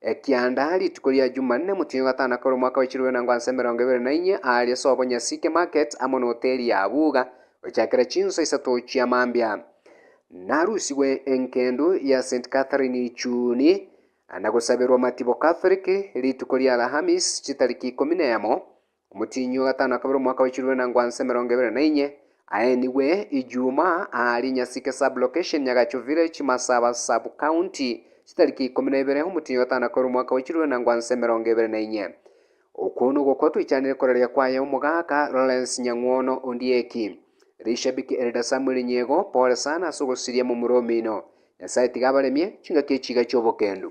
Ekianda rituko ria Jumanne, motienyi o gatano akore omwaka bwe chirube na ngwanso emerongo ebere na inye, aaria ase Obonyasike Market amo n'Hoteli ya Abuga, gochakera chinsa isato chia mambia. Narusigwe engendu ya St. Catherine Juni, na gosaberwa amatibo Catholic, rituko ria Alhamis chitariki ikomi na emo, Omotienyi o gatano akabera omwaka bw'echumi na inango ase emerongo ebere na inye, aenigwe Ijuuma aare Nyasike Sub-location, Nyagacho Village, Masaba Sub-county, chitariki ikomi na ibere omotienyi o gatano akabera omwaka bw'echumi na inango ase emerongo ebere na inye. Okwo nogwo okwo twichanire koraria kwaye omogaka Lawrence Nyang'wono Ondieki. Rishabiki Elder Samuel Nyego, pole sana ase ogosiria momura omino. Nyasaye tiga abaremie chingaki echiga chi'obokendu.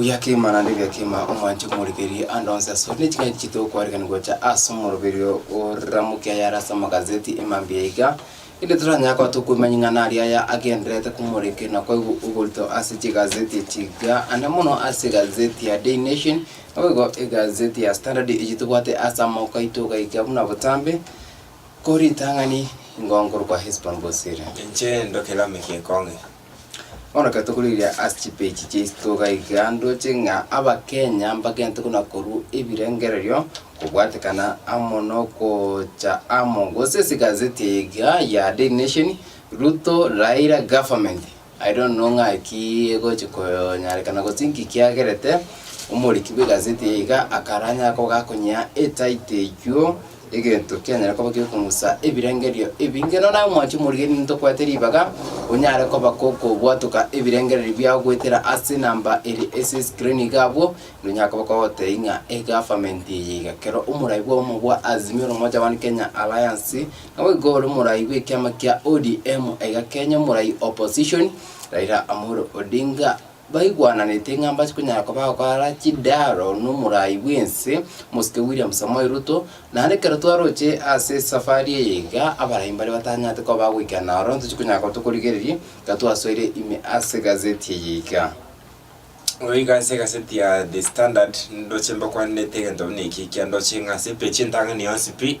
Oya kegima naende oya kegima omwanche komorigereria ande onsi asore, ne ching'ai chiaito gokwanekania gocha ase omoroberi oo oramokia ayare ase amagazeti e mambia iga, erinde toranyare koba tokoimanya ing'ana aria aya agendererete komoreka na kwaigwa oborito ase chigazeti echi iga, ande mono ase egazeti ya Daily Nation, naboigo egazeti ya Standard eyio tobwate ase amagoko aito iga iga buna botambe, ko ritang'ani ingo nkorokwa Hesbon Bosira. Inche ndoke namigie ekong'e, Bono ekero tokorigereria ase chipeji chiaito togaiga ndoche ng'a abakenya mbagente buna korwa ebirengererio kobwatekana amo na ogocha amo gose ase egazeti eye iga ya Daily Nation, Ruto, Raila government. I don't know ng'aki egochi konyarekana gose nki kiagerete omoriki bw'egazeti eye iga akaranyare koba gakonyea etitle eywo Egento kianyare koba giokong'usa ebirengerio ebinge, nonya naye omwancho omorigereria ntokwete ribaga, onyare koba gokobwatoka ebirengererio biao goetera ase namba ere ase eskrini iga abwo, nonyare koba kogotebia ng'a egavamenti eye iga. Kero omorai bw'obomo bwa Azimio la Umoja One Kenya Alliance, nabo igo ore omorai bw'ekiama kia ODM, aiga Kenya omorai opposition, Raila Amolo Odinga. Baigwananete ng'a mbachie konyara koba agokora chidaaro nomorai bw'ense, Omosike William Samoei Ruto, naende ekero twaroche ase esafari eye iga, abarai mbare batanyarete koba bagoikera ororo, ntochie konyara koba tokorigereria iga twasoire ime ase egazeti eye iga. Bono iga ase egazeti ya The Standard, ndoche mbakwanere egento buna eki ekiya ndoche ng'a ase epage entang'ani yonsi pi.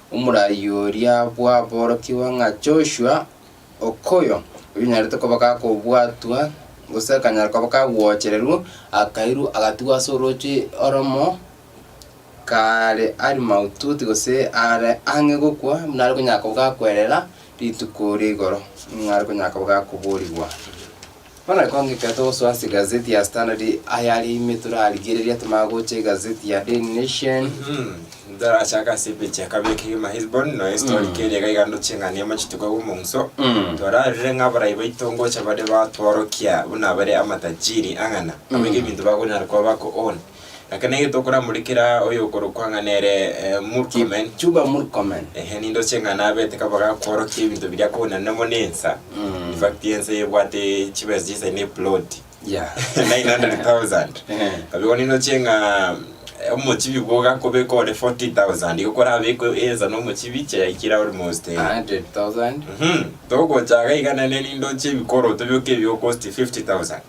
Omoraiyo oria bwaborokigwe ng'a Joshua, okoyo oyonyarete koba gakobwatwa, gose akanyara koba kagwochererwa, akairwa agatigwa ase orooche oromo kaare are maututi gose are ang'e gokwa, buna are konyara koba gakwerera rituko ria igoro, nigo are konyara koba gakoboorigwa. Bono kong'ika togosoa ase egazeti ya Standard ayare ime torarigereria tomanye gocha egazeti ya Daily Nation. Mhm. Torachaka ase epeji ya kabere kegima Hesbon, noyo estori keria iga iga ndoche ing'ana ya machiko iga bw'omonso. Mm. Torarire ng'a abarai baito ngocha bare batworokia buna bare amatajiri ang'ana, abaiga ebinto bakonyara koba bakoona. Ekero nigo tokoramorekera oyokorokwa ng'a nere eh, Murkomen. Kipchumba Murkomen. Ehe, ninde oche ng'a nabete kaba gakworokia ebinto biria kobonene mono ensa. Mm. In fact, ensa ebwate chibesa chisa ne plot. Yeah. 900,000. Eh. Abigo ninde oche ng'a eh, omochibi boga kobeka ore 40,000. Igo korabekwe ensa na omochibi chayaikire almost. eh, 100,000. Mhm. Togocha iga iga naende nindoche ebikoroto bioka ebiokosti 50,000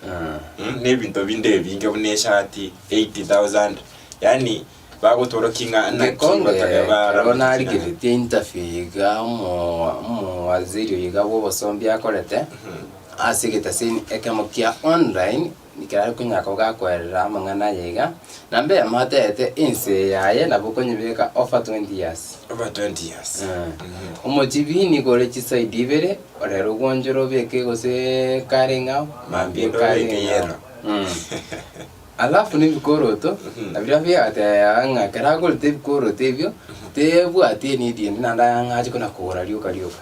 mm, na ebinto binde ebinge buna eshati 80,000 yani bagotworokia ng'a naki Gekonge batari bara ekero narigeretie interview iga omo- omowaziri iga bw'obosomba akorete ase egetasini ekemo kia online. Ekero Nyako gakwerera amang'ana aye iga, na mbere moteete ense yaye, nabo okonyebeka over twenty years. Over twenty years. Eeh. Omochibi nigo ore chiside ibere, orere ogwonchore obeke gose kare ng'ao, mambia Mambia kare obeke ng'ao. yellow. Mmh. Alafu ne ebikoroto, ebiria biagateba ng'a ekero agorete ebikoroto ebio, tebwati enidi ende naende ang'ache kona kogora rioka rioka.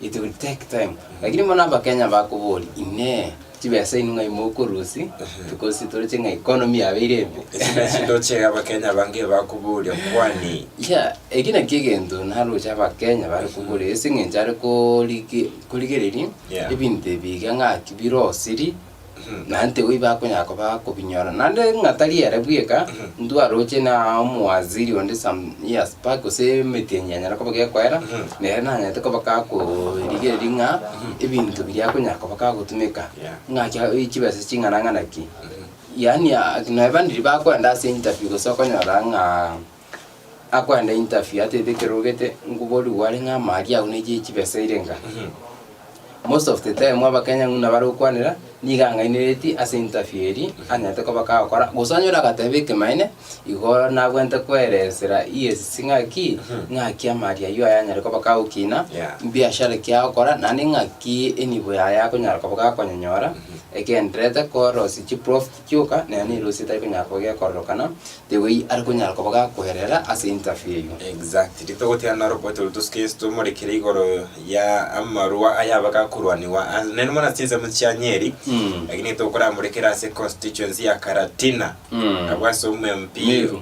It will take time. Lakini bono Abakenya bakoboria, Inee! Chibesaini ng'ai mokorusia, tokorusia toroche ng'a economy yabeire embe. Ase naki ndoche Abakenya abange bakoboria kwani. Yeah, eki nakio egento naroche Abakenya bare koboria ase eng'encho are korige- korigereria Yeah. ebinto ebi iga ng'aki birosirie Mhm. naende tiga iba akonyara koba kobinyora. Naende ng'a tari ere bweka, ntwaroche na omowaziri onde some years back gose emetienyi enyare koba gekoera, Mhm. Nere nanyarete koba gakorigereria ng'a ebinto biria akonyara koba gagotumeka, ng'a chia chibesa ching'ana ng'ana ki. Yaani nonya bande riria bakoenda ase interview gose okonyora ng'aa akoenda interview atebete ekero orogete, ngoborigwe are ng'a ama aria agwo ne chie chibesa eire ng'a. Most of the time abakenya ng'una bare gokwanera nigo ang'aineretie ase interview eri anyarete koba kagokora gose onyore agateba ekemanyeene igo nabwente koeresera EACC ng'aki ng'aki amari aywo aya anyare koba kagokina Yeah. mbiashara ki agokora naende ng'aki enibo yaye akonyara koba gakonyenyora egenderete korosia chiprof. Gioka, nere nerosie tari konyara koba gekororokana, tegoi are konyara koba gakoerera ase interview eyio. Exactly. Togoteana naro oboete oria tosuke Yeso tomorekere igoro ya amarua aya abe gakorwanigwa ase naende mono ase chinsemo chia Nyeri, lakini tokoramorekere ase constituency ya Karatina, abwo ase omwe MP Meru.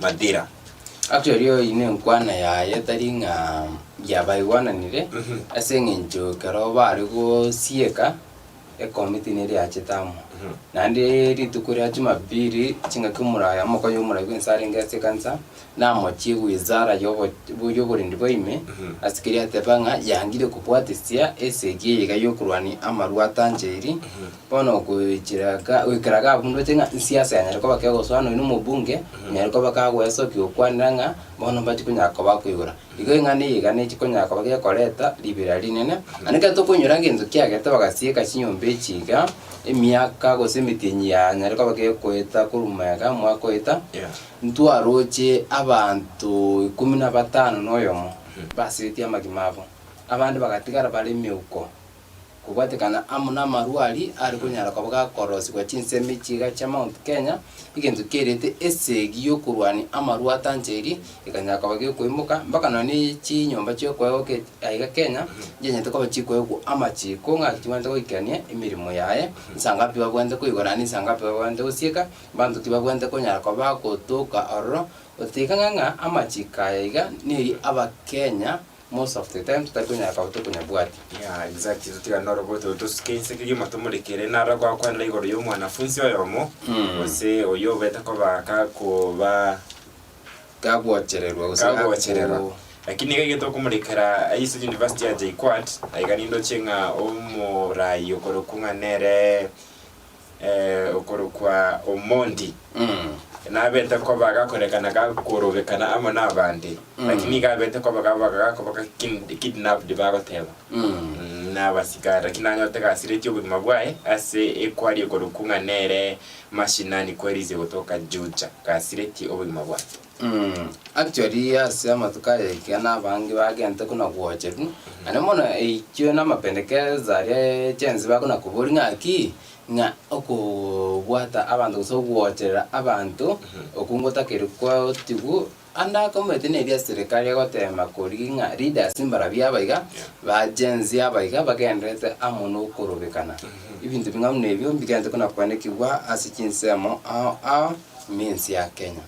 Matira. Ase erio eyio nenkwana yaye tari ng'a gia baigwananire, ase eng'encho ekero bare gosieka ekomiti neria yachete amo. Naende rituko ria Jumapili chingaki omoraai omokonyi omoraai bwensi arenge ase ekanisa, namochie wizara yobo yoborendi bwa ime, ase keria ateba ng'a yangire kobwatesia esegi eye iga yokorwania amarwa atanchairi, Bono okochira ga- goikera gabundoche ng'a inse ase yanyare koba kegosoana oino omobunge, onyare koba kagoesokia gokwanera ng'a bono mbati konyara koba koigora. Igo eng'ana eye iga nechi konyara koba gekoreta ribera rinene. Naende ekero tokonyora ng'a enchokio yagerete bagasieka chinyomba echi iga, emiaka gose emitenyi yanyare koba gekoeta korwa omoyega omwaka oeta, ntwaroche abanto ikomi na batano na oyomo, basetie amagima abo, abande bagatigara bare emeuko. Kobwatekana amo namarwa aria are konyara koba gakorosigwa chinsemi chiga chia Mount Kenya, egento kiairete esegi yokorwania amarwa atancheri ekanyara koba gekoimoka, mpaka nonye chinyomba chiokoegwa ke aiga Kenya nchianyete koba chikoegwa amachiko ng'aki chibwate goikania emeremo yaye, nsangapi babwate koigora naende nsangapi babwate gosieka, banto ki babwate konyara koba bagotoka ororo, gotiga ng'a amachiko aya iga neri abakenya Most of the time titari konyara kaba tari konyabwati. Yeah exactly totigane noroboto tosuke inse kegima tomorekere naro agokwanera igoro ya omwanafunsi oyomo gose oyio obete koba gakoba Gagochererwa gose gago gagochererwa lakini iga egento okomorekera aise university ya JKUAT aiga nindoche ng'a omorayi okorokwa ng'a nere eh, okorokwa Omondi nabete koba gakorekana gakorobekana amo nabande lakini iga abete koba gaba gakoba ga kid- kidnapped bagoteba Mm, nabasigara lakini nanyote gasireti obogima bwaye ase ekwari ekorokwa ng'a nere mashinani kwerize gotoka juja gasireti obogima bwaye Actually ase amatuko aya ekiagera abange bagente kona gwocherwa na ne mono eikio na amapendekezo aria e chensi bakona koboria ng'a ki ng'a okobwata abanto gose ogwocherera abanto okwo ngotakeire kwaotigwa ande ake omanyete na eria eserikari egotema koria ng'a leaders mbarabwo aba iga ba chensi aba iga bagendererete amo na okorobekana. Ebinto bing'aini na ebio mbigente kona koanekigwa ase chinsemo ao ao minsi ya Kenya.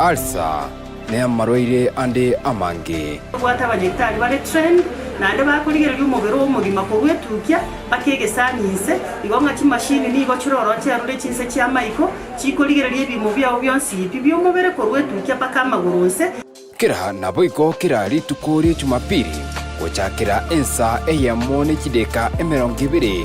Ulcer, ne amarwaire ande amange. Bwate abanyagitari bare trained naende bakorigereria omobere oo omogima korwa etukia mpaka egesani inse, igo ng'a chimashini nigo chire ororo chiarure chinse chi'amaiko, chikorigereria ebiimo biao bionsi pi bi'omobere korwa etukia mpaka amagoro onse. Kera naboigo kera rituko rie Jumapili, gochakera ensa eyemo ne chideka emerongo ebere,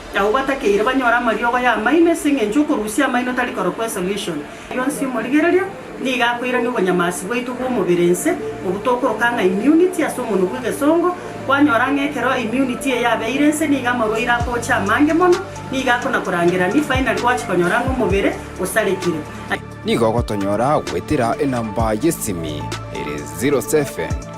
Abwo batakeire banyore amariogo y'amaino ase engencho y'okorusia amaino tari korokwa esolution. Rionsi omorigereria nigo akoirania obonyamasi bwaito bw'omobere inse, obwo tokoroka ng'a immunity ase omonwa bw'egesongo. Kwanyora ng'a ekero immunity eye yabeire inse nigo amarwaire akocha amange mono, nigo akona korangerania finally gwachi konyora ng'a omobere osarekire. Nigo ogotonyora goetera enamba y'esimi ere zero seven.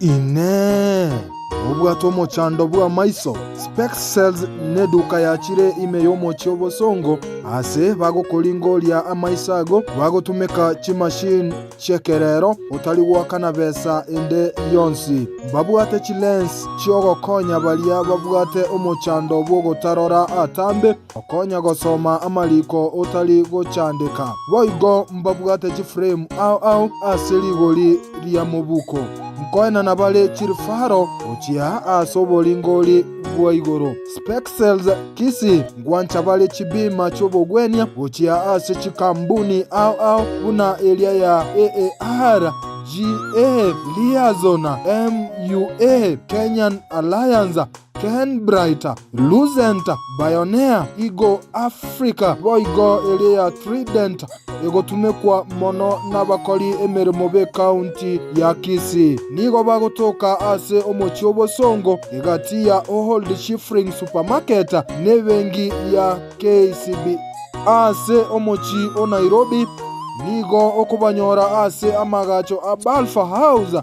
Inee! Nobwate omochando bw'amaiso, spectacles, na eduka yachire ime y'omochie obosongo? Aase bagokoringoria amaiso ago, bagotumeka chimashini chi'ekerero, otari goakana besa ende yonsi. Mbabwate chilens chi'ogokonya baria babwate omochando bw'ogotarora atambe. Okonya gosoma amariko otari gochandeka. Boigo mbabwate chifremu ao ao ase rigori ria mobuko, nkoenana bare chirifaro gochia ase oboringori bwa igoro. Spexels kisi ngwancha bare chibima chi'obogwenia gochia ase chikambuni ao ao buna eria ya AAR, GA, Liaison, MUA, Kenyan Alliance, Kenbrite, Luzente, Bionea, igo Afrika boigo ere ya Tridente egotumekwa mono nabakori emeremo b'ekaunti ya Kisii. Nigo bagotoka ase omochie obosongo egati ya Old Shifring Supermarket na ebenki ya KCB. Ase omochie o Nairobi nigo okobanyora ase amagacho a Balfour House.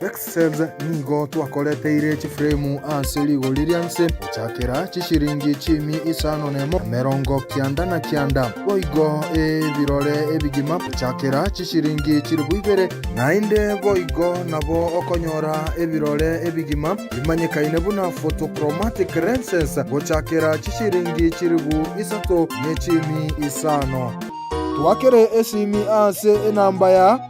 Excel's nigo twakoreteire chifremu ase rigori ria nse gochakera chishiringi chiumi isano nemo na emerongo kianda na kianda, boigo ebirore ebigima gochakera chishiringi chilifu ibere, naende boigo nabo okonyora ebirore ebigima bimanyekaine buna photochromatic lenses gochakera chishiringi chilifu isato ne chiumi isano. Twakere esimi ase enamba ya.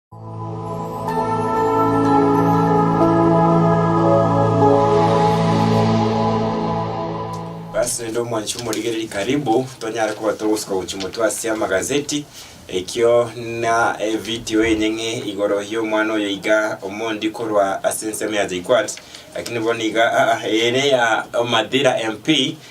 Basi rende omwanchi omorigereri karibu tonyare koba togosuka gochia motwe ase amagazeti ekio na evideo enyeng'e igoro y'omwana oyo iga omondi korwa ase ensemo ya JKUAT lakini bono iga aa ere ya Madira MP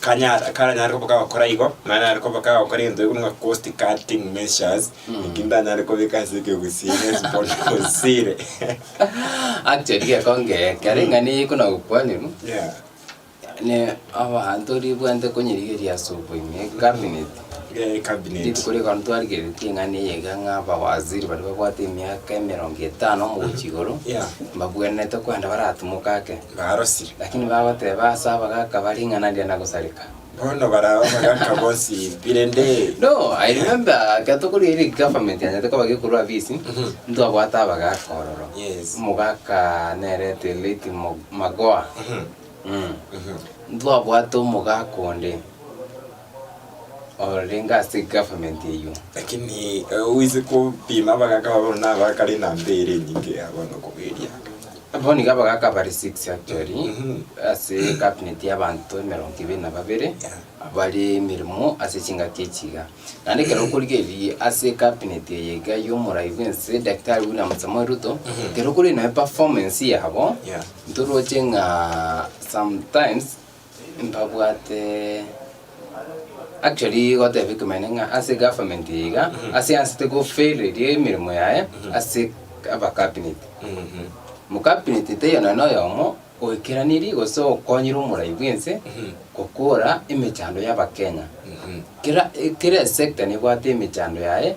Kanyara, karanyare koba kagokora igo, naye nare koba kagokora egento gekoro ng'a cost cutting measures, eki ndanyare kobeka ase ekegusii gose bono bosire. Actually gekonge kere eng'ana eye ekona gokwanerwa Yeah, ne abanto ribwate konyerigeria ase okoime ecabinet yeah, ecabinet. rituko rigana twarigeretie eng'ana eye iga ng'a abawaziri baria babwate emiaka emerongo etano omogochia igoro Yeah. mbabwenerete kwenda baratimoka ake barosire. Lakini bagoteba ase abagaka bare ing'ana ria na gosareka. Bono barao abagaka bonsi impire ndee. No, I remember ekero tokorigia ere government yanyete koba gekorwa afisi, Mhm. ntwabwate abagaka ororo. Yes. Omogaka nere the late Mo- Magoha. Mhm. Mm. Mhm. Ntwabwate omogaka onde. orenge ase government eyio. Lakini eh, oise kopima abagaka babo na abakare enamba ere enyinge ya bono koberia. Abo niga abagaka bari 6 actually Mhm. ase cabinet y'abanto emerongo ibere na babere abare emirimo ase chingaki echiga naende ekero okorigereria ase cabinet eye iga y'omorai bw'ense daktari William Samoei Ruto Mhm. ekero okorigereria naye performance yabo Yeah. ntoroche ng'a sometimes Mbabwate actually goteba ekemanyereria ng'a ase egovernment eye iga ase ansete go fail eria emeremo yaye ase aba cabinet. Mu cabinet taiyo nonye na oyomo oekeraniri gose okonyire omorai bwense gokora emechando y'abakenya. Kera kera esector nebwate emechando yaye.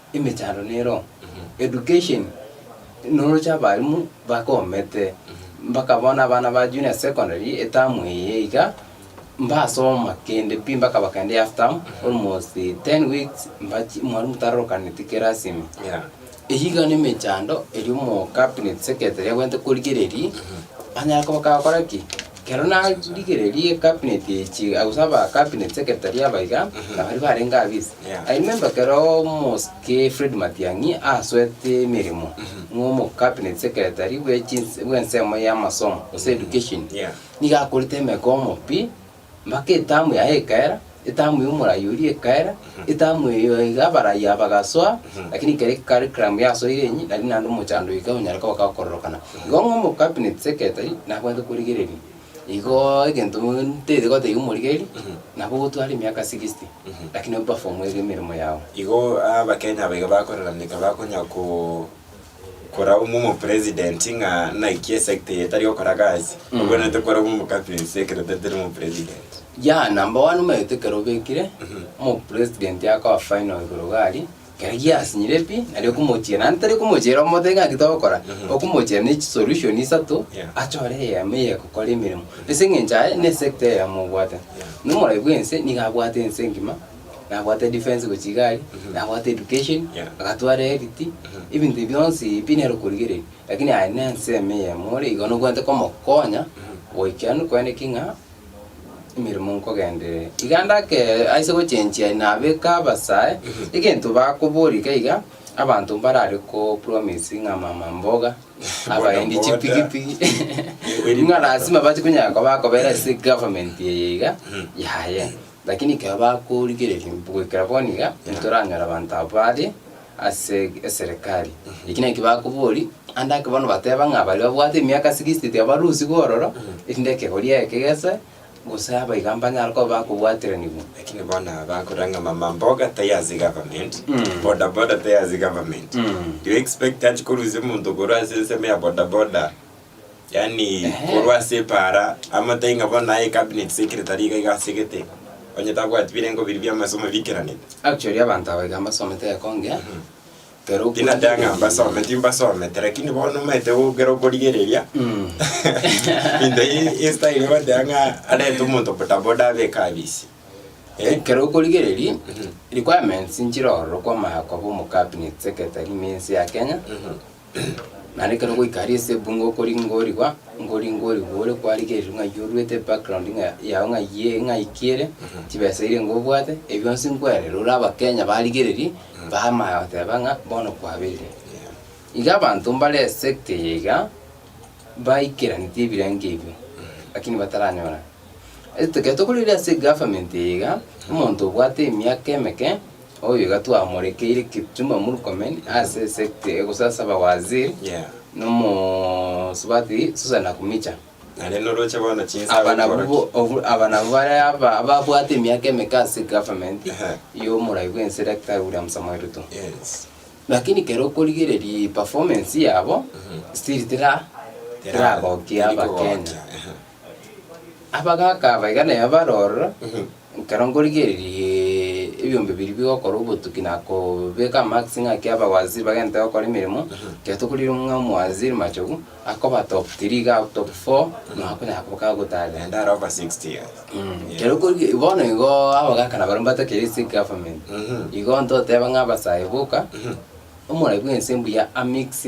emechando nero education noroche abalimu bakomete mpaka bono abana ba junior secondary etamu eye iga mbasoma kende pi mpaka bakende half term almost ten weeks mbachi mwalimu tarorokaneti kerasi ime Yeah. eyio iga ne emechando eri omo cabinet secretary agwenerete korigereria anyare koba kagokora ki. Ekero narigereria ecabinet eye chiga, gose aba cabinet secretary aba iga, na baria barenge abwo is. Yeah. I remember ekero omosike Fred Matiang'i asoete emeremo ng'a omo cabinet secretary bwe chinse bwe ensemo ya amasomo gose education. Yeah. Nigo akorete emegoomo pi, mpaka etamu yaye ekaera. Etamu y'omoraia oria ekaera, etamu eyo iga abaraiaa bagasoa, lakini ekero ecarriculum yasoire enyi, nari naende omochando oyo ekanyara koba gakororokana. Igo ng'a omocabinet secretary nabwate korigereria, igo egento ntaete gotebia omorigereria, nabo ogotwara emiaka sixty, lakini operform ere emeremo yago. Igo Abakenya aba iga bakoreraneka bakonyara ko. korabwo momo president ng'a naki esecta eye etari gokora gasi Mm. obwenerete korabwo momo captaincy ekero tatari momo president ya number one omanyete ekero obekire Mhm. omo president akoa final igoro gari kero giasinyire pi nari okomochiera nari tari komochiera omotebie ng'a naki togokora Mhm. okomochiera ne chisolution isato Yeah. achore eyemo eye egokora emeremo ase eng'encho aye ne esecta eye yamobwate Yeah. na omoraia bwense nigo abwate ense engima nabwate defence gochia igari, Mhm. nabwate education, Yeah. agatwara health, Mhm. ebinto ebio bionsi pi nere okorigereria. Lakini aye na ensemo eyemo ore igo nobwenerete komokonya, Mhm. goikera nokwane ki ng'a emeremo nkogenderere. Iga ndake aise gochenchia nabeka abasae, Mhm. egento bakobora iga iga, abanto mbarare ko promise ng'a mama mboga, abaendi Boda boda. chipigipigi, Kweri ng'a boda. lazima bachi konyara koba bakobera ase government eye iga, Mhm. yaya. Lakini ekero bakorigereria goikera bono iga, titoranyora abanto abwo bare ase eserekari. Eki nakio bakobori, ande ake bono bateba ng'a baria babwate emiaka sixty tiabarusigwe ororo, erinde ekegoria eke gese, gose abaiga mbanyare koba bakobwateranigwa. Lakini bono aba bakorora ng'a mama mboga tai ase government, Mm. boda boda tai ase government. Mm. Do you expect achi korusia omonto korwa ase ensemo ya boda boda Yaani korwa ase epaara amatai ng'a bono aye cabinet secretary iga iga asegete onye tabwati birengo biria bi'amasomo biikeranete. Actually abanto aba iga mbasomete egekonge kero okwo Tinateba ng'a mbasome timbasomete lakini bono omanyete gokera okorigereria Mm. into i- i style ogoteba ng'a arente omonto bodaboda abe ekabisi. Eh? ekero okorigereria Mhm. requirements nchire ororo kwamanya koba omo cabinet secretary na ense ya Kenya Mhm. Naende ekero ogoika aria ase ebunga okori ngorigwa, nkori ngorigwa ore kwarigereria ng'a ayio oruete background ng'a yao ng'a ayio ere ng'a iki ere, chibesa eria nigo obwate, ebi bionsi nkwerire ore abakenya barigererie, bamanya goteba ng'a bono kwabeire. Iga abanto mbare sector eye iga, baikeranetie ebirengo ebio, lakini bataranyora. Ekero tokorigereria ase egovernment eye iga, omonto obwate emiaka emeke. Oyo iga twamorekeire Kipchumba Murkomen ase esekta egosasaba Waziri Yeah. na omosubati Susan Nakhumicha. Naende noroche bono chinsa Aba nabwo agokora bo- ki? obu- aba nabwo bare aba- ababwate emiaka emeke ase egovernment Ehe. y'omorai bwense Daktari William Samoei Ruto. Yes. Lakini kero okorigereria eperformance yabo, still tera- teragokia Teri kogokia, Abakenya. ehe. Abagaaka aba iga nere barorora, ekero nkorigereria ebiombe biria bigokora obotuki na kobeka amakesi ng'a ki abawaziri bagente gokora emeremo, ekero tokorigereria ng'a omowaziri Machogu, akoba top three iga au top four, na akonyara koba agotara. Naende are over sixty years. Mh, ekero okorigia bono igo abagaka nabare mbatakire ase egovernment, igo ntoteba ng'a abasae boka, omoraia bwense mbuya amix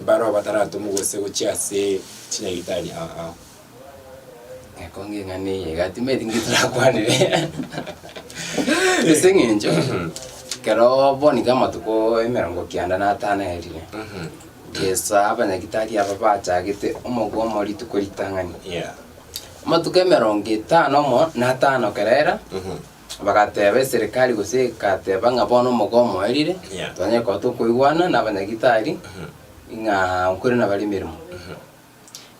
Barabwo bataratomwa gose gochia ase chinyagitari aa. Ekonge eng'ana eye iga timanyeti nki torakwanere. Ase eng'encho ekero bono iga amatuko emerongo kianda na atano erire, gesa abanyagitari aba bachagete omogo omo rituko ritang'ani. Yeah. Amatuko emerongo etano omo na atano kerera, Bagateeba eserekari gose egateba ng'a bono omoga omoerire, tonyare koba tokoigwana n'abanyagitari ng'a nkore nabare emeremo.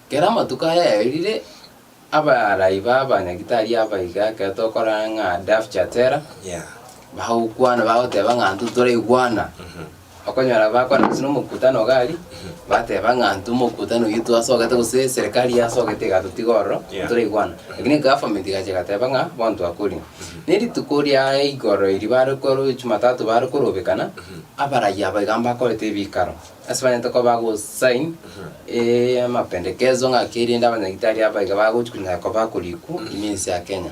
Kera amatuko ayaerire, abarai b'abanyagitari aba iga ekero tokorora ng'a Daf Chatera, bagokwana bagoteba ng'a intwe toraigwana Okonyora bakorana ase nomokutano iga aria, bateba ng'a intwe omokutano oyio twasogete gose eserikari yasogete egatotiga ororo, Yeah. toraigwana. Lakini government egacha egateba ng'a bono twakorire. Na erituko riaye igoro eri bare koro jumatatu bare korobekana, abarai aba iga mbakorete ebikaro, ase banyete koba bago sign eeh amapendekezo ng'a keri rende abanyagitari aba iga bagochi konya koba korikwa ime ense ya Kenya.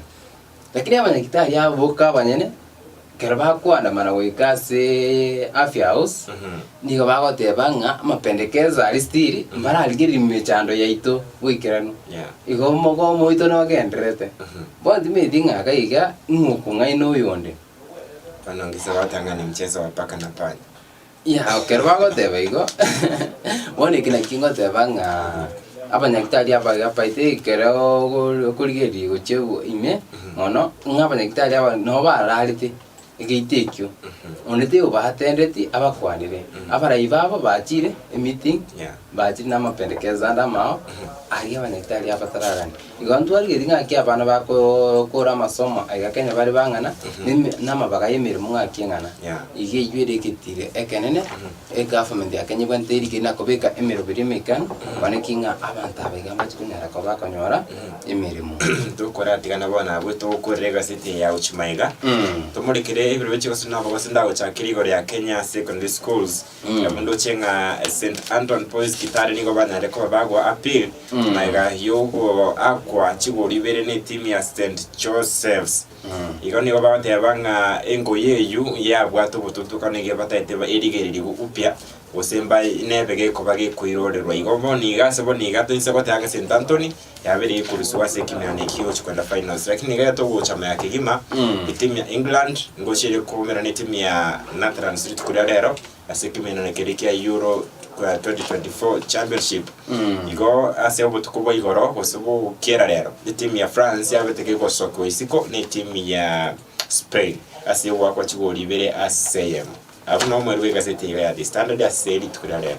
Lakini abanyagitari aba boka abanyene, ekero bakoandamana goika ase Aphia House, nigo bagoteba ng'a amapendekeso aria stiri mbararigererie mechando yaito goikeranu. Igo omogomo oito nogendererete. Bono timanyeti ng'a iga iga ng'a okong'aina oyonde. Ing'ao ekero bagoteba igo, bono eke nakio ngoteba ng'a abanyagitari abaya abaito ekero okori okorigereria gochia bo ime mono, ng'a abanyagitari aba nabo bararete egeito ekio, onde tigo batendeti abakwanire. Abarai babo bachire emeeting, Yeah. bachire na amapendekezo ande amao, aria abanyagitari abatararane. Igo ntwarire ring'aki abana bakore amasomo aiga kenya bare bang'ana, na amabaga y'emeremo ng'aki eng'ana. Iga eyio ere egetiri ekenene egavumenti ya Kenya ebwanete eria keri na kobeka emeroberi emekani, kwane ki ng'a abanto aba iga mbache konyara koba bakonyora emeremo. Tokoratigana bono abwo togokorera egaseti eye ya Uchi Maiga, tomorekere ebiroreche gose nabo gose ndagochakere igoro ya Kenya Secondary Schools. Onye omonto ochie ng'a St. Anton Boys Kitale nigo banyare koba bagoa appeal magega y'ogoakwa chigoro ibere n'etimu ya St. Joseph's. Igo nigo bagoteba ng'a engoyi eyio yabwate obotutukana iga bataete ba- erigeririwa upya gose mbae nebe gekoba gekoirorerwa. Igo bono iga ase bono iga toise goteba ng'a St. Anthony Yabeire ekoruswa ase ekemeano ekio egochia koenda finals lakini niga togocha maya kegima etimu ya England ngochia ere koumera na etimu ya Netherlands rituko ria rero ase ekemenano kere kia Euro 2024 championship igo ase obotuko bwa igoro gose bokiera rero etimu ya France yabete kegosokwa isiko na etimu ya Spain ase ogoakwa chigori ibere ase eyemo. Abwo nabwo mwerwe egaseti eye ya The Standard ase rituko ria rero.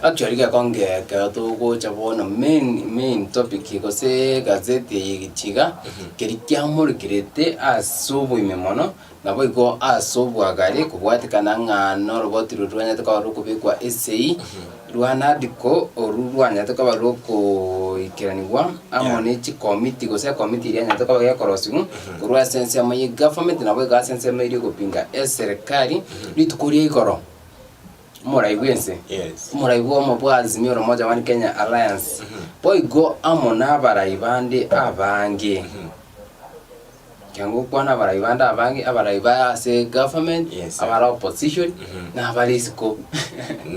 Actually gekonge ekero togocha bono main main topic gose gazeti eye egechiga keri kiamorikirete ase oboime mono nabo igo ase obwagare kobwatekana ng'a noroboti rori rwanyete korora okobekwa esei Rwanadiko oru rwanyarete koba rw'okoikeranigwa amo Yeah. ne chikomiti, gose ekomiti eria enyarete koba gekorosigwa korwa ase ensemo ye gavernment nabo iga ase ensemo eria egopinga eserekari rituko ria igoro. Omorai bw'ense, Yes. omorai bw'omo bwa Azimio la Umoja One Kenya Alliance, boigo amo nabarai bande abange. Ekiagera gokwana abarai bande abange, abarai ba ase egovernment, Yes. abare opposition, Mhm. na abare isiko.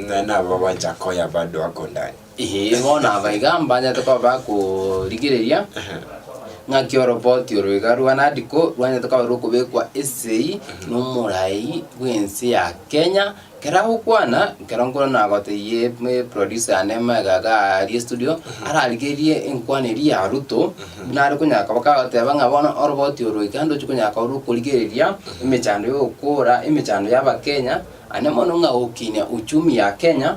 Na nabo bacha koya bado ako ndani. Ehe, bono aba iga mbanyete koba bakorigereria Ehe. ng'aki oroboti oro iga rwa NADCO rwanyete koba rokobekwa esegi na omorai bw'ense ya Kenya, Kera agokwana, nkero nkoro nagotebie producer yane Maega iga aria estudio, ararigerie enkwana eria ya Ruto, buna are konyara koba kagoteba ng'a bono oroboti oro iga ndochi konyara korwa okorigereria emechando ya ogokora, emechando ya Abakenya, aende mono ng'a gokinia uchumi ya Kenya,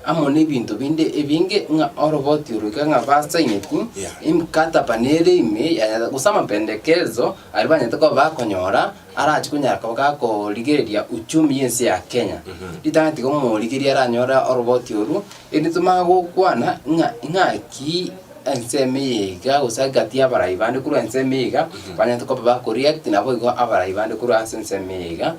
amo nebinto binde ebinge ng'a oroboti oroike ng'a basaineti, emikataba na ere ime yanyarete, gose amapendekerezo aria banyarete koba bakonyora arachi konyara koba gakorigereria uchumi y'ense ya Kenya. Ritang'ani tiga omorigereria aranyore oroboti oru, erinde tomanye gokwana ng'a ng'aki ensemo eye iga gose egati y'abarai bande korwa ensemo eye iga, banyarete koba bakoriakti naboigo abarai bande korwa ase ensemo eye iga.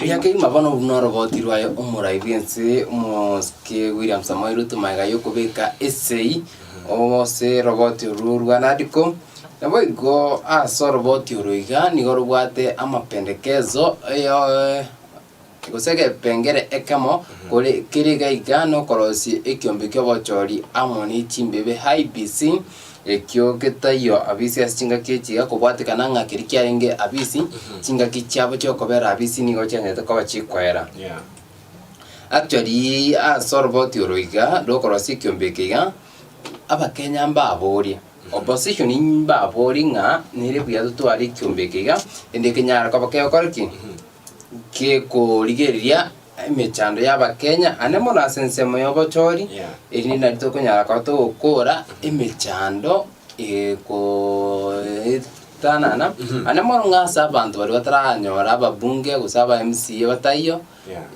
Ria keima bono buna oroboti rwaye omorai bw'ense Omosike William Samoei Ruto magega y'okobeka esegi ase oroboti orwo rwa Nadco. Naboigo ase oroboti oro iga nigo robwate amapendekezo. gose egepengere ekemo, kore kere gaiga nokorosia ekiombe ki'obochori amo ne chimbebe, haibis, ekio getaiyo abisi ase chingaki echi, gekobwatekana ng'a keria kiarenge abisi, chingaki chiabo chi'okobera abisi nigo chiancherete koba chikoera. Actually, ase oroboti oro iga, rokorosia ekiombe eke iga, abakenya mbaborie, opposition mbaborie ng'a nere buya totware ekiombe eke iga, ende kenyare koba kegokora ki? gekorigereria emechando y'Abakenya, ande mono ase ensemo y'obochori, erinde nari tokonyara koba togokora emechando egoetanana, ande mono ng'a ase abanto baria bataranyora ababunge gose aba MCA bataiyo,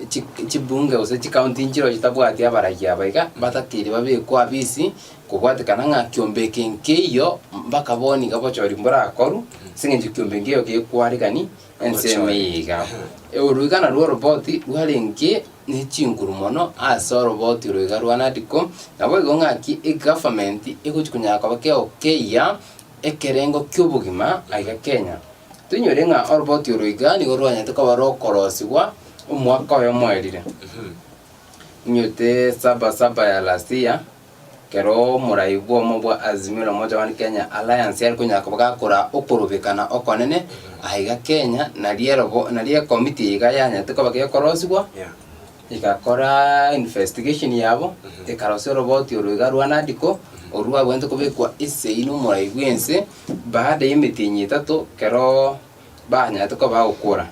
chi chibunge gose chikaunti nchiro chitabwati abaragi aba iga, batakeire babekwa afisi, kobwatekana ng'a kiombe eke nkeiyo, mpaka bono iga obochori mborakorwa, as'eng'encho kiombe nkeiyo gekwarekani, Ense meiga. Oruigana rw'oroboti rwarenge ne chinguru mono ase oroboti oro iga rwa Nadco, naboigo ng'aki egovernment egochi konyara koba kegokeyia ekerengo ki'obogima aiga Kenya. Toinyore ng'a oroboti oro iga nigo rwanyarete koba rokorosigwa omwaka oyomo erire. Inywete saba saba ya last year, Ekero omorai bw'omo bwa Azimio la Umoja One Kenya Alliance yari konyara koba gakora okorobekana okonene, aiga Kenya nari erobo nari ekomiti iga yanyarete koba gekorosigwa, egakora investigation yabo, ekarosia oroboti oro iga rwa NADCO, oru rwabwenerete kobekwa esegi na omorai bw'ense, baada y'emetienyi etato, ekeroo. banyarete koba agokora,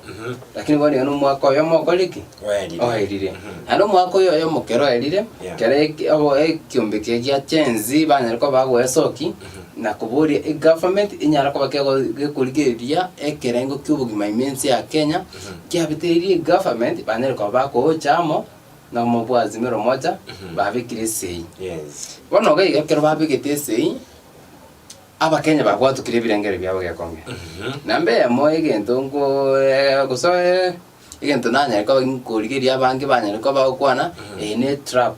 lakini bono iga nomwaka oyomo okorire ki? Oerire. Oerire. Mhm. Naende omwaka oyo oyomo kere oerire, Yeah. kere eki- abo- ekiombe kire gia Gen Z banyare koba agoesoki, na koboria egovernment enyare koba kego- gekorigereria ekerengo kia obogima ime ense ya Kenya, kiabitiririe egovernment banyare koba bagoocha amo, na omobua Azimio Umoja, babekire esegi. Yes. Bono iga iga ekero babegete esegi. Abakenya babwatokire ebirengererio biabo gekonge. Namba eyemo egento nko eh, gose eh, egento nanyare koba nkorigeria abange banyare koba bagokwana eye ne trap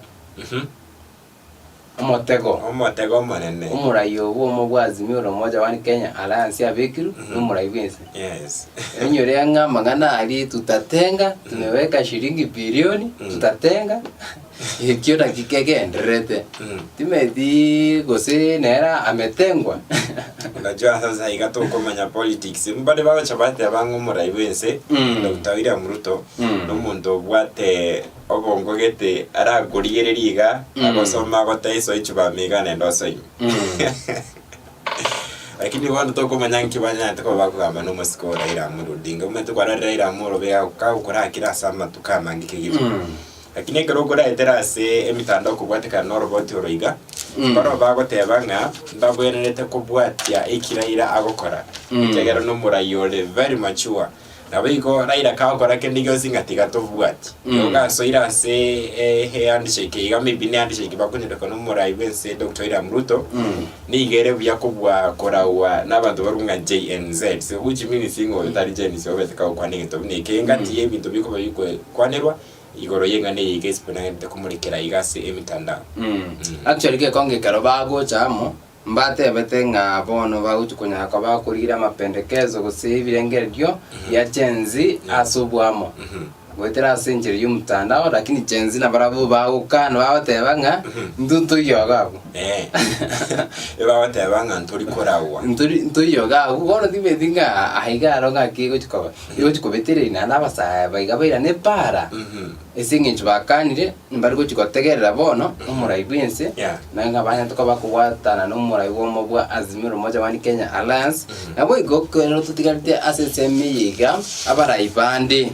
omotego Omotego omonene. omorai obo omo bwa Azimio la Umoja One Kenya Alliance abekirwe na omorai bwense. Yes. Enyore ng'a amang'ana aria tutatenga, tumeweka shilingi bilioni, tutatenga. Ekio naki kegendererete. Mm. Timeti gose nera ametengwa. Unajua sasa iga tokomanya politics mbade bagocha bateba ng'a omorai bw'ense Mm. Dr. William Ruto Mm. nomonto obwate obongo gete arakorigereria iga Mm. agosoma agotaiso echibame iga nende osoimi Mm. lakini bono tokomanya nki banyarete koba bakogamba na omosike o Raila Amolo Odinga omanyete kwarorire Raila Amolo Odinga kagokorakire ase amatuko amange kegima Mm. Lakini ekero okoraetera ase emetandao okobwatekana noroboti oro iga, Mm. barabwo bagoteba ng'a mbabwenerete kobwatia eki Raila agokora, Mm. ekiagera nomorai ore very mature. Naboigo Raila kagokora kende gionsi ng'a tiga tobwati. Mm. Igo gasoire ase eh, ehandshake iga maybe ne handshake bakonyoreka nomorai bwense Doctor William Ruto, Mm. niga ere buya kobua koragwa nabanto barwo ng'a JNZ. So which means ng'a oyo tari Gen Z obete kagokwana egento buna eke, engati Mm. yebinto bikoba bikwe kwanerwa Igoro y'eng'ana eye iga esibwe nagenderete komorekera iga ase emetandao. Mm. Actually gekonge ekero bagocha amo, mbatebete ng'a bono bagochia konyara koba bakorigira amapendekezo gose ebirengererio bia Gen Z ase obwamo. Mhm. Goetera ase enchera y'omotandao lakini Gen Z nabarabwo bagokana bagoteba ng'a Mhm. ntu ntoiyoga abwo. Eh. Ebagoteba ng'a ntori koragwa. Ntori ntoiyoga abwo bono tibeti ng'a aiga aro ng'aki egochia koba. Rigochi kobetera iri, naende abasaae baiga bairana epaara, ase engencho bakaanire mbare gochi gotegerera bono omorai bw'ense, na ng'a banyare koba kobwatana n'omorai bw'omo bwa Azimio la Umoja One Kenya Alliance, naboigo ekero totigarete ase ensemo eye iga abarai bande,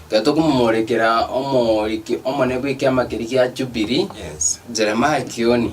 ekero tokomomorekera omoriki omonene bw'ekiama keria gia Jubilee, Jeremiah Kioni.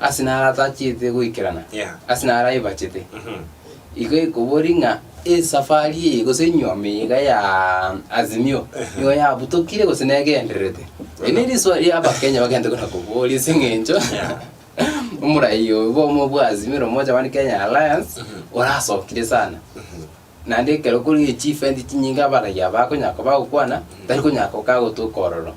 Ase naro atachete goikerana, ase naro aibachete. Igo ekobori ng'a esafari eye gose enyiomi iga ya Azimio nigo yabutokire gose negendererete. Eri ne risoa ria abakenya bagente kona koboria ase eng'encho omorai oyo bwa Azimio na omocha one Kenya Alliance orasokire sana. Naende ekero kore chifendi chinyinge abaragia aba bakonyara koba bagokwana, tari konyara gokaa gotoka ororo.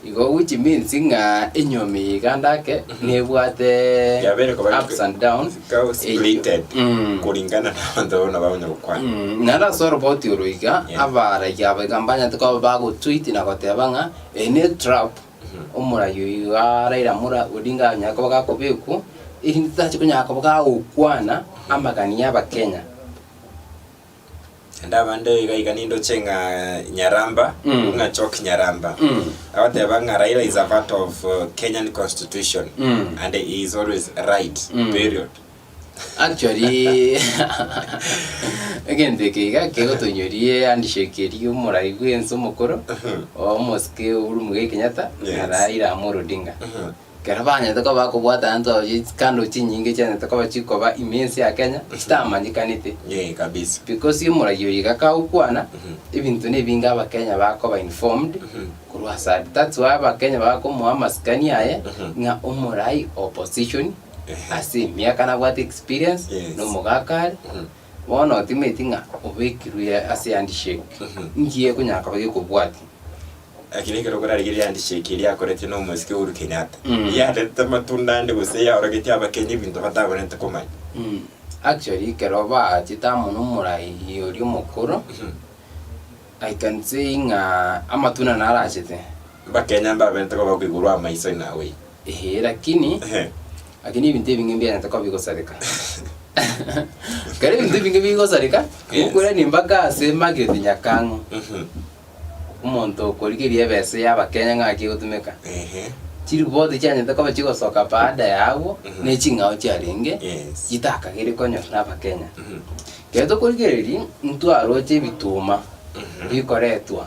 Igo which means ng'a enyomi ya iganda ake nebwate Yabere koba iko- ups and downs. Ikawa splitted Mm. kulingana na abanto abwo nabo bakonya gokwana. Mm, naende ase oroboti oro iga Yeah. abaragia aba iga mbanyete koba bagotweet na goteba ng'a eye ne trap Omorai oyo araire amore oria nganyare koba gakobekwo, erinde titache konyara koba gagokwana amagani y'Abakenya. Naende abande iga iga nindoche ng'a nyaramba Mm. ng'a chok nyaramba Mm. agoteba ng'a raila is a part of uh, kenyan constitution Mm. and he is always right Mm. period Actually, egento eke iga kegotonyorie handshake eria y'omorai bw'ense omokoro, omosike Uhuru Muigai Kenyatta, Yes. na Raila Amolo Odinga. Ekero banyete koba bakobwata abanto abo chi- chikando chinyinge chianyete koba chikoba ime ense ya Kenya, chitamanyekanete. Yee, kabisa. Because omorai oyo iga kagokwana, ebinto na ebinge abakenya bakoba informed, korwa asare. That's why abakenya bakomoa amasikani aye, ng'a omorai opposition. ase emiaka nabwate experience, Yes. na omogaka are, Mhm. bono otimaeti ng'a obekirwe ase handshake, Mhm. nki ekonyara koba gekobwatia? Eki nekero okorarigeria handshake eria akorete na omosike Uhuru Kenyatta. Mm. Yarete amatunda ande gose yaorogetie abakenya ebinto batabarente komanya. Mm, actually ekero baachete amo na omorai oria omokoro, Mhm. I can say ng'a amatunda naro aachete. Abakenya mbaberente koba koigurwa amaiso in a way. Ee, lakini Ehe. lakini ebinto ebinge mbiarente koba bigosareka kare ebinto ebinge bigosareka Yes. gokurani mpaka ase mageti nyakang'u Mhm. omonto okorigeria ebese ya abakenya ng'aki egotumeka Ehe. chiripoti chianyete koba chigosoka baada ya abwo Mhm. ne ching'ao chiarenge Yes. chitakagere konyorwa na abakenya Mhm. ekero tokorigereria ntwaroche ebituma Mhm. bikoretwa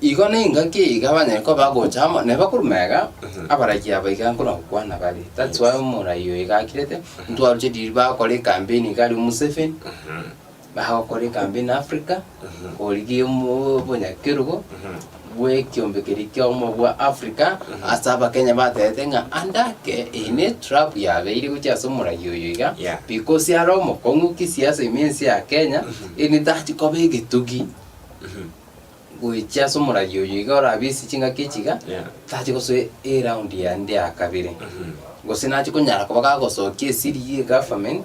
Igo nengaki iga banyare koba agocha amo, na bakoruma iga, abaragi aba iga nkona gokwana bare. That's why omorai oyo iga akirete, ntwaruche riria bagokora ekampeni iga aria Museveni, bagokora ekampeni Africa, korigia omo- obonyakerogo, bwa ekiombe keria kiaomo bwa Africa, ase abakenya batebete ng'a ande ake, eye ne trap yabeire gochia ase omorai oyo iga, Yeah. because are omokong'u kisiasa ime ense ya Kenya, ere tachi koba egetugi. Goichia ase omoragi oyo iga orabe ase chingaki echi iga, tache gosoa eround yande ya kabere. Gose nache konyara koba gagosokia esiri ye government,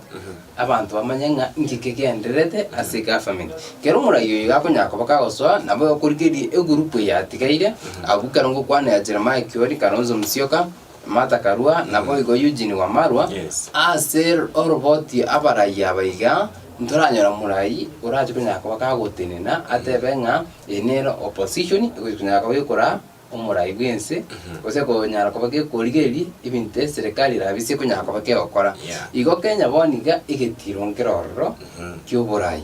abanto bamanye ng'a inki kegendererete ase government. Kero omoragi oyo iga akonyara koba kagosoa, nabo okorigereria egroup eyatigaire, abwo ekero ngokwana ya Jeremiah Kioni, Kalonzo Musyoka, Martha Karua, naboigo Eugene Wamalwa, Yes. ase oroboti abarayia aba iga, ntoranyora morayi orache konyara koba kagotenena atebe ng'a eye nere opposition egochi konyara koba gekora omorayi bw'ense, gose konyara koba gekorigereria ebinto eserekari erabe ase ekonyara koba kegokora. Yeah. Igo Kenya bono iga egetiro nkere ororo ki'oborayi.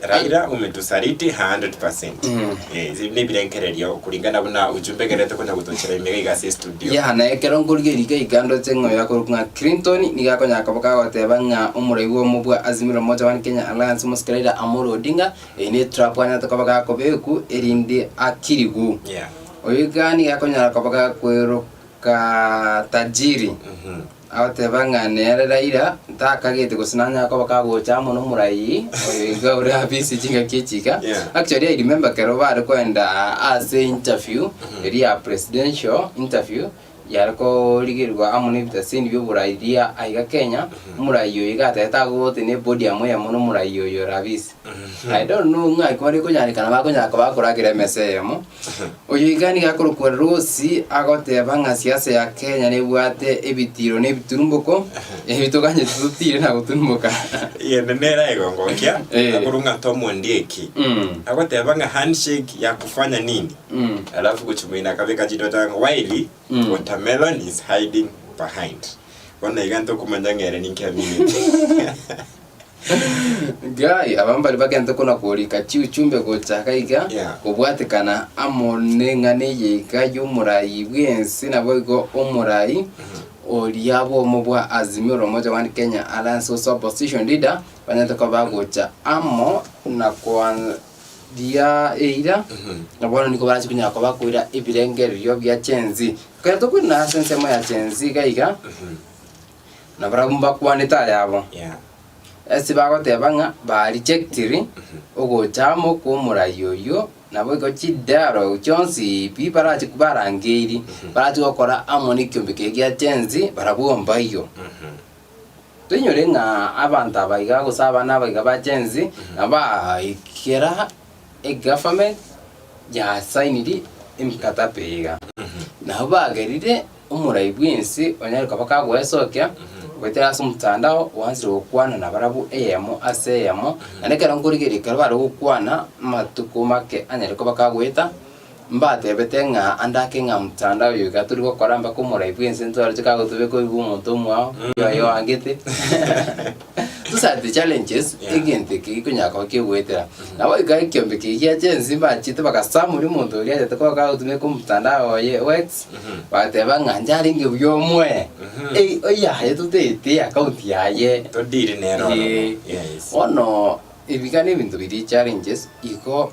Raila umetusaliti 100%. Mm. Eh, zi- nebirengererio kulingana buna ujumbe gerete kuja gutochera imega iga ase studio. ya na ekero nkorigia erika igando ase ng'oyo yakorwa ng'a clinton niga akonya koba kagoteba ng'a omorai bwa omo bwa azimio la umoja one kenya alliance omosike raila amolo odinga eyi ne trap anyate koba gakobeku erinde akirigu Yeah. oyo iga niga akonyara koba gakweroka tajiri Mhm. Agateba ng'a nere Raila ntakagete gose nanyare koba kagocha amo nomoraiyi oyo iga ore abise chingaki echi iga. Yeah. Actually I remember kero bare kwenda ase interview eria ya presidential interview yare korigerigwa amo nebitaseni bioborai ria aiga Kenya, omoraiyi oyo iga atagete agote ne podium eyemo nomoraiyi oyo ore abise. I don't know ng'a ekero ekonyareka nabo akonyara koba akoragera emesa eyemo Oyoika nigo akorokwa Rosi agoteba ng'a siasa ya Kenya nebwate ebitiiro na ebiturumboko, ebi toganyete totiire na goturumboka. Egento nere aigogokia Eh. akuru ng'ata omondieki Mm. agoteba ng'a handshake ya kufanya nini Mm. alafu gochimoina akabeka chidota ng'a while Mm. watermelon is hiding behind bono iga ntokumanya ng'a ere ninki amineti Gai, aba mbari bagente kona korika chiuchumbe gocha gaiga, Yeah. kobwatekana amo neng'ana eye iga y'omorai bw'ense, naboigo omorai oria bwomo bwa Azimio la Umoja One Kenya Alliance gose Opposition Leader banyete koba bagocha amo na koandia eira, na bono nigo barachi konya koba koira ebirengererio bia Gen Z. Ekero tokoirana ase ensemo ya Gen Z gaiga, na barabwo mbakwanete ayabo. Ase bagoteba ng'a barejectire ogocha amo kw'omorai oyio, naboigo chidialogue chionsi pi barachi barangeirie, barache gokora amo nekiombe keria gia chensi, barabwo mbaiyo. Toinyore ng'a abanto abaiga gose abana abaiga ba chensi, nabaikera. eGaverment yasainiri emikatape iga, nabo bagerire omorai bw'ense onyare koba kagoesokia goetera ase omotandao gwansire gokwana nabarabwo eyemo ase eyemo, naende ekero nkorigereria ekero bare gokwana amatuko make anyare koba kagoeta, Mbatebete ng'a ande ake ng'a mtandao oyo iga tori gokora mpaka omorai bw'ense ntwarete kagotobeka oibi bw'omonto omwao, oyo aye oangete. Those are the challenges Yeah. egento eke gikonyara koba kiogoetera. Nabo iga ekiombe kegio gia Gen Z mbachete bagasamuria omonto oria riatete koba kagotobeka omtandao oye o X, Mhm. bagateba ng'a inche arenge buya omoe, Mhm. ei oyaye totaete account yaye. Todiri nere oromo. Ee. Yes. Bono ebi iga nebinto biria challenges igo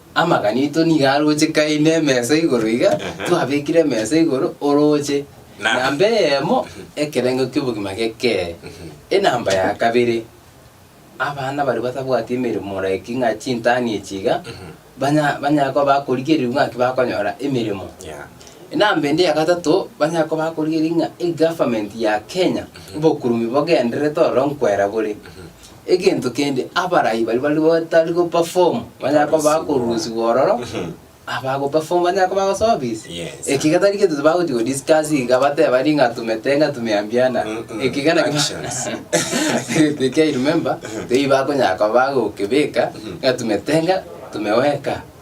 Amagana aito nigo aroche kaine emesa igoro iga, Aha. twabekire emesa igoro oroche Na- namba eyemo ekerengo ki'obogima gekere. Enamba ya kabere, abana baria batabwati emeremo like ng'a chintani echi iga, banya banyare koba bakorigereria ng'aki bakonyora emeremo. Yeah. Enamba ende ya gatato, banyare koba bakorigereria ng'a egovernment ya Kenya, obokurumi bogendererete ororo nkwera bore. Egento kende abarai baria bari batari goperform banyare koba bakorusigwa ororo, abagoperform banyare koba bagosobisi. Yes. Eki iga tari gento bagochi godiscuss iga bateba ri ng'a tumete ng'a tumeambiana. Mm, mm. Eki iga naki- Actions. Egento ekio I remember, tei bakonyara koba bagokebeka ng'a tumete ng'a tumeweka.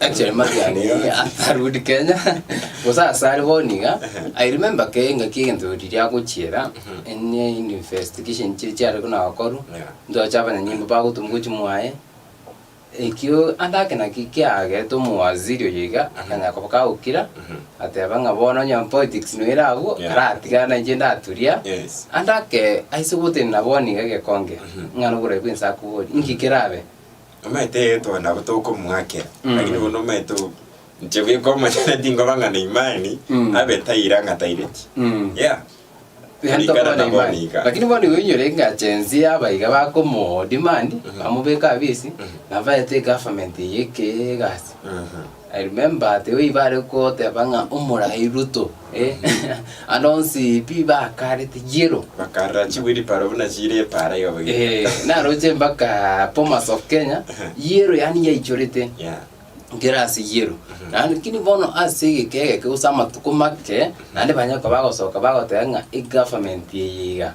Actually Marian eh, akarudi Kenya gose ase are bono iga I remember ke engaki egento riria agochiera ene investigation chiri chiare buna gokorwa Yeah. ntoche abanyanyimbo bagotuma gochi mwaye ekio ande ake naki kiagete omowaziri oyo iga akanya koba kagokira ateba ng'a bono onye politics noire abwo Yeah. aratigana inche ndaturia Yes. ande ake aise gotenena bono iga gekonge ng'a noborai bwense akobori inki kerabe Omanyete egento nabo tokomwakera, Mm. lakini bono omanyete o- inche buya komonyene tinkoba ng'a na imani, Mm. abe taira ng'a taireti. Mm. Yeah. Yaani Kulingana tokobona na imani. bono iga. lakini bono igo inyore eng'ache ense ya abaiga bakomodemand Mhm. bamobeka abisi Mhm. nabaete egovernment eye eke egasi Mhm. I remember tigo ibare goteba ng'a omorai Ruto, eh, ande onsi pi bakarete yellow. Bakarera chibwiri paro buna chire epara iga boigo. Eh, naroche mpaka Bomas of Kenya, yellow yani yaichorete Yeah. nkera ase yellow. Lakini bono ase egeka egeke gose amatuko make, naende banyare koba bagosoka bagoteba ng'a egovernment eye iga.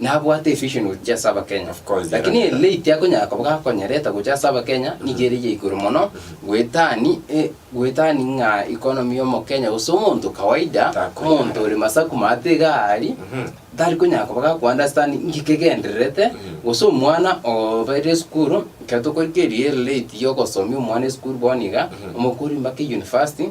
Nabwate evision gochia ase abakenya. Of course, Lakini era- ere late akonyara koba gakonyerete gochia ase abakenya nigo ere ya igoro mono goetani e goetani ng'a economy ya omokenya gose omonto kawaida Takonyara. omonto ore masaku maate iga aria tari konyara koba ga understand nki kegendererete gose omwana obeire esukuru ekero tokorigereria ere late ya ogosomi omwana esukuru bono iga omokori mbake university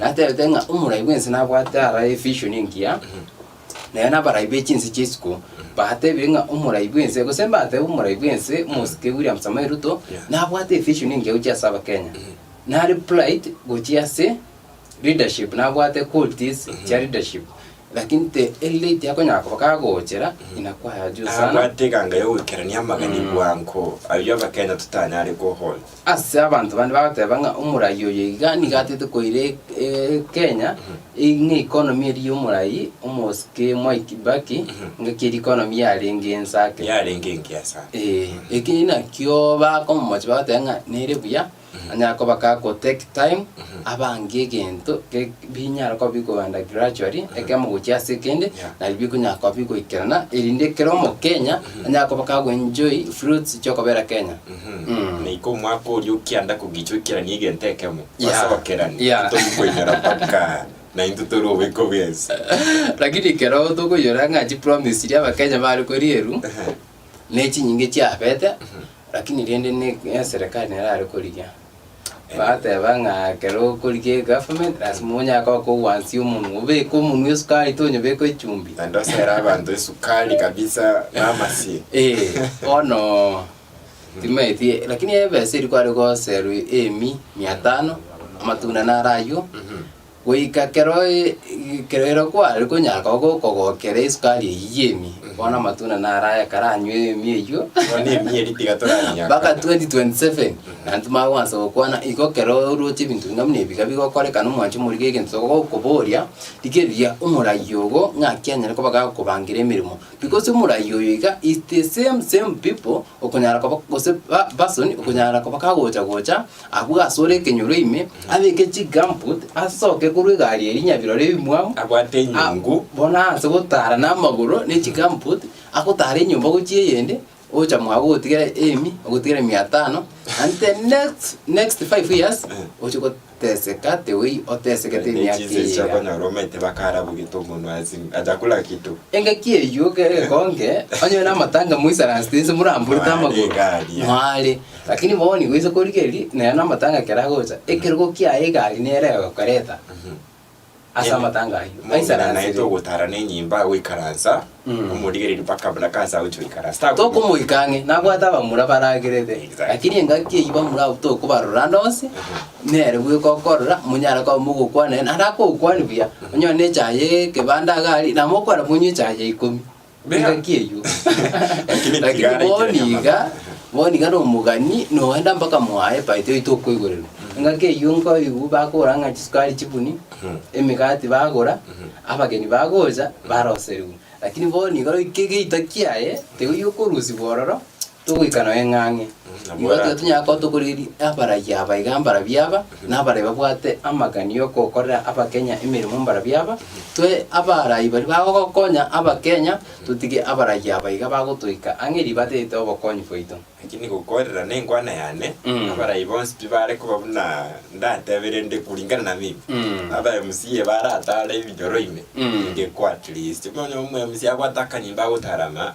Natebete ng'a omorai bw'ense nabwate aroro evision engiya, na ere nabarai be chinse chia isiko batebire ng'a omorai bw'ense, gose mbatebe omorai bw'ense, omosike William Samoei Ruto, nabwate evision engiya gochia ase Abakenya. Nare plight gochia ase leadership, nabwate qualities chia leadership, lakini te elite akonyara koba kagochera inakwaye juu sana. Nabwate eganga ya ogoikerania amagani bwango, ayio Abakenya totanyare kohold. Ase abanto bande bagoteba ng'a omorai oyo iga nigo atete koira Kenya, ng'a economy eria y'omorai omosike Mwai Kibaki, ng'aki eria economy yarenge ense ake. yarenge engiya sana Eh, eki nakio bakomomocha bagoteba ng'a nere buya, anyare koba ka go take time, abange egento ge binyare koba bikogenda gradually, ekemo gochia ase ekende, Yeah. nari bikonyara koba bigoikerana, erinde kera omokenya, anyare koba ka go enjoy fruits chiokobera Kenya. Na iko omwaka oria o kianda kogicha oikeranie egento ekemo, Yeah. ase ogokerania Yeah. ntori koinyora mpaka naintwe tore obweko bwensi. Lakini ekero tokoinyora ng'a chipromise chiria abakenya bare korierwa nechinyinge chiabete lakini rende ne- neserikali nere are korigia bateba ng'a ekero okorigia egovernment lasima onyare koba kogwansia omonwe obeke omonwe esukari tonyobeka echumbi Naende osere abanto esukari kabisa na amasie. Eh, bono Timaeti, lakini ebesa eri kware goserwa eemi mia tano, amatunda naro ayio, goika kero e- kero ero kware konyaga go- kogokera esukari eyio y'eemi, bono amatunda naro aya ekero anywa eemi eyio, Bono eemi eri tiga toranyaka. mpaka 2027 naende timanye kwansa gokwana, igo kero oroche ebinto buna buna ebiga bigokorekana omwanche omorige egento togokoboria, rigereria omorai ogo ng'aki anyare koba gakobangera emeremo. Because omoraia oyo iga is the same same people okonyara koba gose ba- person okonyara koba kagocha gocha abwo asore ekenyoro ime, abeke chigumboot, asoke korwa egari eri nyabirore ebimwamu, Abwate enyungu. Ah, bono ase gotara namagoro ne chigumboot, agotara enyomba gochia eyende, Ogocha mwabo ogotigera emi, ogotigera mia tano, and the next, next five years, Eh. oche goteseka tewei otesekete emiaka Nechinsa eye iga. echiakonyora omanyete bakarabogeto omonwa ase achakula kitu engaki eyio ke- gekonge onye na amatanga moisaransi tinse moramburete Mware amagoro igaria. mware lakini bono nigo oise korigeria nere na amatanga keragocha ekerogo kiaye egari nere egokoreta Ase Em- amatanga ayio. Momura naye Aisaransire. togotara nenyimba goikaransa Mm. omorigereria mpaka buna kansa agochia goikaransa Tago- tokomoika ang'e nabwate abamura baragerete Exactly. lakini engaki eyio bamura abwo tokobarora ande onsi nere bweka okorora monyare koba mogokwana naende akogokwania buya onyore na echaye ekebanda iga aria namokwana monywe echaye ya ikomi Bea- engaki eyio Lakini lakini tigara bono ikere iga nyamara. bono iga nomogani noenda mpaka mwaye paito yaito okoigorerwa engaki eyio nkoigwa bakogora ng'a chisukari chibuni Mhm. emegati bagora abageni bagocha baroserigwa lakini bono iga roike egeita kiaye tiga okorusigwa ororo Togoika noe ng'ang'e. Igo tiga tonyara koba tokoreri abarai aba iga mbara biaba, na abarai babwate amagani y'okokorera Abakenya emeremo mbara biaba. Toe abarai baria bagogokonya Abakenya, totige abarai aba iga bagotoika ang'e erio batete obokonyi bwaito. Naki nigo okoerera nenkwana yane, Mm. abarai bonsi pi bare koba buna ndatebe, rende kuringana na mimi, Mm. abae msiye baratare ebinyoro ime, Mm. ninge kwa at least. Bono omoe msiye abwate akanyimba agotarama.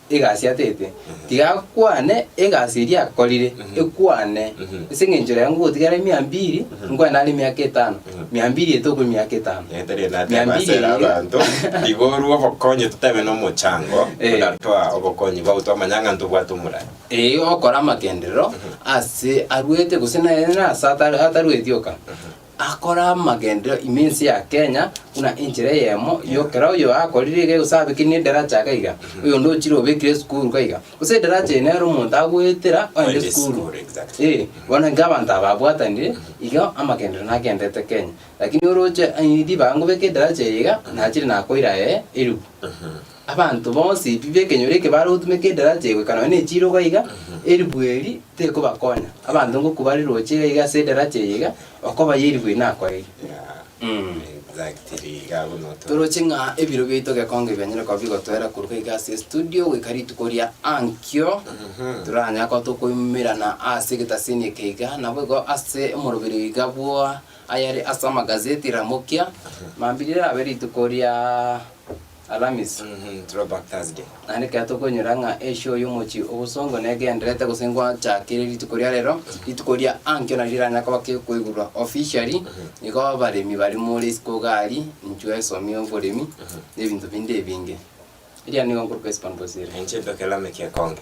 egasi atete, tiga akwane egasi eria akorire, ekwane. Ase engencho rero ngogotiga are mia mbiri, nkwane are emiaka etano, mia mbiri ete okwe emiaka etano. Etari Mia nateba mbiri asere eye. abanto igorwa obokonyi totabe nomochango Eh. buna toa obokonyi bwabo twamanya ng'a ntobwate omorari Ee, okora amagenderero ase arwete gose naye nase atari- atarueti oka. Akora amagenderero ime ense ya Kenya buna enchera eyemo y'okera oyo akorire iga egosabekire nedaracha iga iga, oyonde ochire obekire esukuru iga iga. Gose edaracha eye nere omonto agoetera oende Oende esukuru. esukuru, exactly. Eh, bono iga abanto aba babwatanire, iga amagenderero nagendererete Kenya. Lakini oroche eh, ribaga ngobeke edaracha eye iga, nachire nakoira eh, eribu. Abanto bonsi b'ekenyoro eke bare gotumeka edaraja egoika nonya nechirogo iga, eribu eri tekobakonya. Abanto ngokwa bare roche iga iga ase edaraja eye iga, okoba y'eribu eri nakoire. Mm. Exactly, iga abwo noto. Toroche ng'a ebiro biaito gekonge bianyare koba bigotwera koruga iga ase estudio goika rituko ria ankio, toranyare koba tokoimerana ase egetasini eke iga, naboigo ase omoroberio iga bwa ayare ase amagazeti Ramokia, mambia rirabe rituko ria. Alamisi, Throwback Thursday. Naende ekero tokonyora ng'a eshoo y'omochie obosongo negenderete gose ngochakire rituko ria rero, rituko ria ankio nario riranyare koba ki koigurwa officially, nigo abaremi baria more isiko iga aria, inchuo esomi y'oboremi, na ebinto binde ebinge. Eria nigo nkoruka isiko ndosire. Inche ntoke Lameki ekonge.